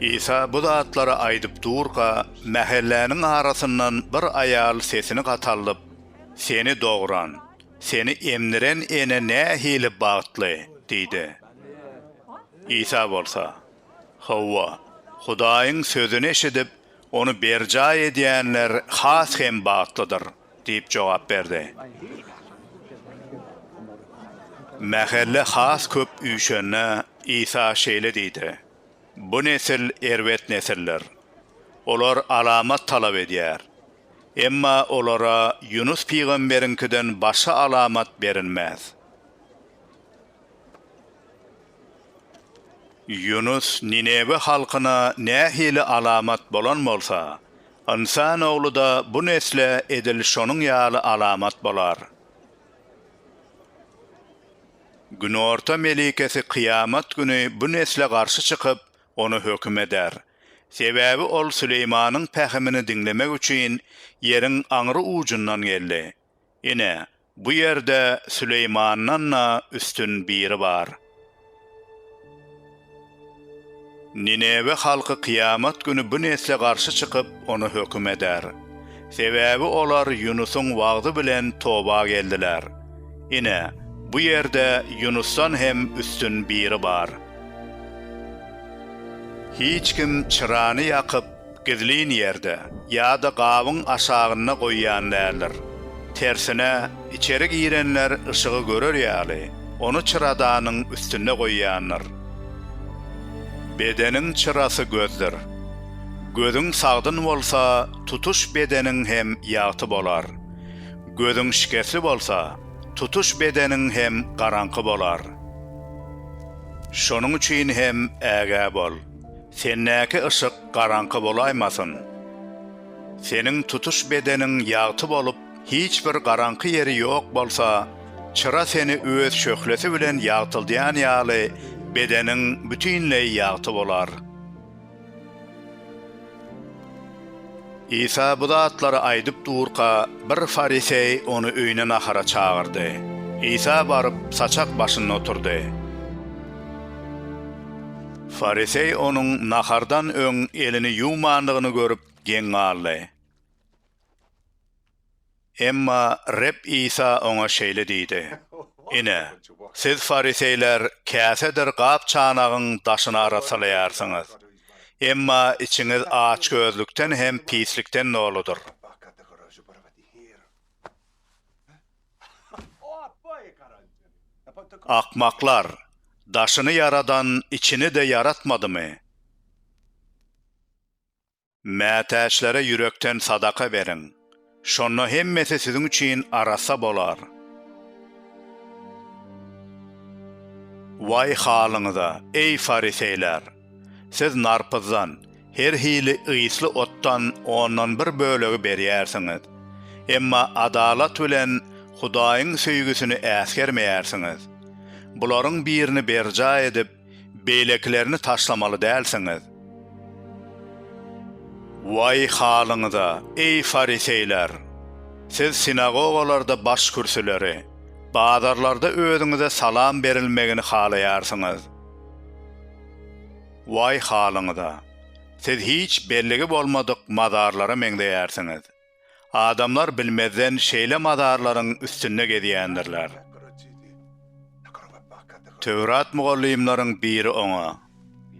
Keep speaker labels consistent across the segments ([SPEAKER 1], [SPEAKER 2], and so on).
[SPEAKER 1] Isa bu zatlary aýdyp durka, mähelläniň arasyndan bir aýal sesini gataldyp, Seni dogran, Seni emdiren ene nähili bagtly! diýdi. Isa bolsa, Hawa, Hudaýyň sözüni eşidip, ony berjaý edýänler has hem bagtlydyr. Diýip jogap berdi. Mähelle has köp üýşende, Isa şeýle diýdi, Bu nesil erbet nesildir. Olar alamat talap edýär. Emma olara Ýunus pygamberiňkiden başga alamat berilmez. Ýunus Ninewe halkyna nähili alamat bolan bolsa, Ynsan Ogly-da bu nesle edil şonuň ýaly alamat bolar. Günorta melikesi kyýamat güni bu nesle garşy çykyp, ony höküm eder. Sebäbi ol Süleýmanyň pähimini diňlemek üçin ýeriň aňry ujundan geldi. Ine, bu ýerde Süleýmandan-da üstün biri bar. Ninewe halky kyýamat güni bu nesle garşy çykyp, ony höküm eder. Sebäbi olar Ýunusyň wagzy bilen toba geldiler. Ine, bu ýerde Ýunusdan hem üstün biri bar. Hiç kim çyrany ýakyp, Gizlin ýerde ýa-da gabyň aşagynda goýýan däldir. Tersine, içeri girenler yşygy görer ýaly, ony çyradanyň üstünde goýýandyr. Bedeniň çyrasy gözdür. Gözüň sagdyn bolsa, tutuş bedeniň hem ýagty bolar. Gözüň şikesli bolsa, tutuş bedeniň hem garaňky bolar. Şonuň üçin hem ägä bol. Sendäki yşyk garaňky bolaýmasyn. Seniň tutuş bedeniň ýagty bolup, hiç bir garaňky ýeri ýok bolsa, çyra seni öz şöhlesi bilen ýagtyldýan ýaly, bedeniň bütinleý ýagty bolar. Isa bu zatlary aýdyp durka, bir fariseý ony öýüne nahara çagyrdy. Isa baryp, saçak başynda oturdy. Fariseý onuň nahardan öň elini ýuwmandygyny görüp, geň galdy. Emma Reb Isa oňa şeýle diýdi, Ine, siz fariseýler käsedir gap-çanagyň daşyny arassalaýarsyňyz, emma içiňiz açgözlükden hem pislikden doludyr. Akmaklar, daşyny ýaradan içini-de ýaratmadymy? Mätäçlere ýürekden sadaka beriň. Şonda hemmesi siziň üçin arassa bolar. Waý halyňyza, eý, fariseýler! Siz narpyzdan, her hili ysly otdan ondan bir bölegi berýärsiňiz, emma adalat bilen Hudaýyň söýgüsini äsgermeýärsiňiz. Bularyň birini berjaý edip, Beýlekilerini taşlamaly dälsiňiz. Waý halyňyza, eý, fariseýler! Siz sinagogalarda başkürsüleri, bazarlarda özüňize salam berilmegini halaýarsyňyz. Waý halyňyza! Siz hiç belligi bolmadyk mazarlara meňzeýärsiňiz. Adamlar bilmezden şeýle mazarlaryň üstünde gezýändirler. Töwrat mugallymlaryň biri oňa,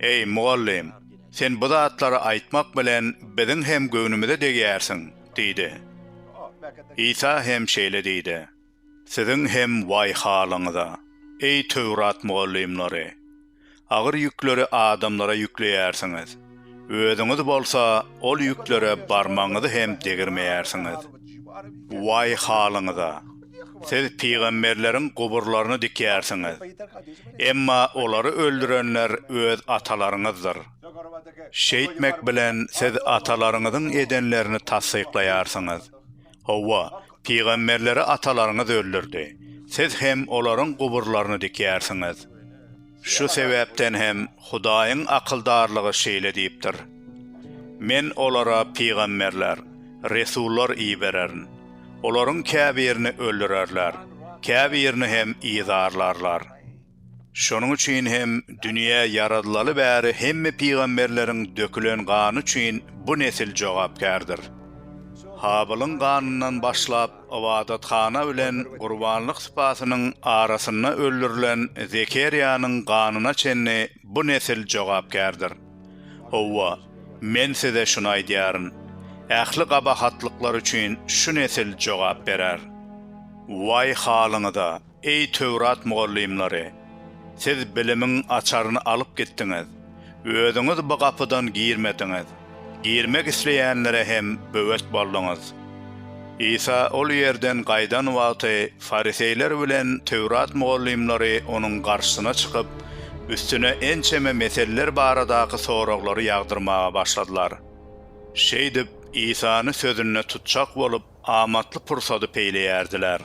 [SPEAKER 1] Eý, mugallym, sen bu zatlary aýtmak bilen biziň hem göwnümize degýärsiň diýdi. Isa hem şeýle diýdi. Siziň hem waý halyňyza, eý Töwrat mugallymlary! Agyr ýükleri adamlara ýükleýärsiňiz, özüňiz bolsa ol ýüklere barmagyňyzy hem degirmeýärsiňiz. Waý halyňyza! Siz pygamberleriň guburlaryny dikýärsiňiz, emma olary öldürenler öz atalaryňyzdyr. Şeýtmek bilen siz atalaryňyzyň edenlerini tassyklaýarsyňyz. Hawa, pygamberleri atalaryňyz öldürdi. Siz hem olaryň guburlaryny dikýärsiňiz. Şu sebäpden hem Hudaýyň akyldarlygy şeýle diýipdir, Men olara pygamberler, resullar ibererin. Olaryň käbirini öldürerler, käbirini hem yzarlarlar. Şonuň üçin hem dünýä ýaradylaly bäri hemme pygamberleriň dökülen gany üçin bu nesil jogapkärdir. Habylyň ganyndan başlap ybadathana bilen gurbanlyk sypasynyň arasynda öldürilen Zekerýanyň ganyna çenli bu nesil jogapkärdir. Howwa, Men size şuny aýdýaryn, ähli gabahatlyklar üçin şu nesil jogap berer. Waý halyňyza! Eý Töwrat mugallymlary! Siz bilimiň açaryny alyp gitdiňiz, özüňiz bu gapydan girmediňiz, girmek isleýänlere hem böwet bolduňyz. Isa ol ýerden gaýdan wagty fariseýler bilen Töwrat mugallymlary onuň garşysyna çykyp, üstüne ençeme meselleri baradaky soraglary ýagdyrmaga başladylar. Şeýdip, Isany sözünde tutjak bolup, amatly pursady peýleýärdiler.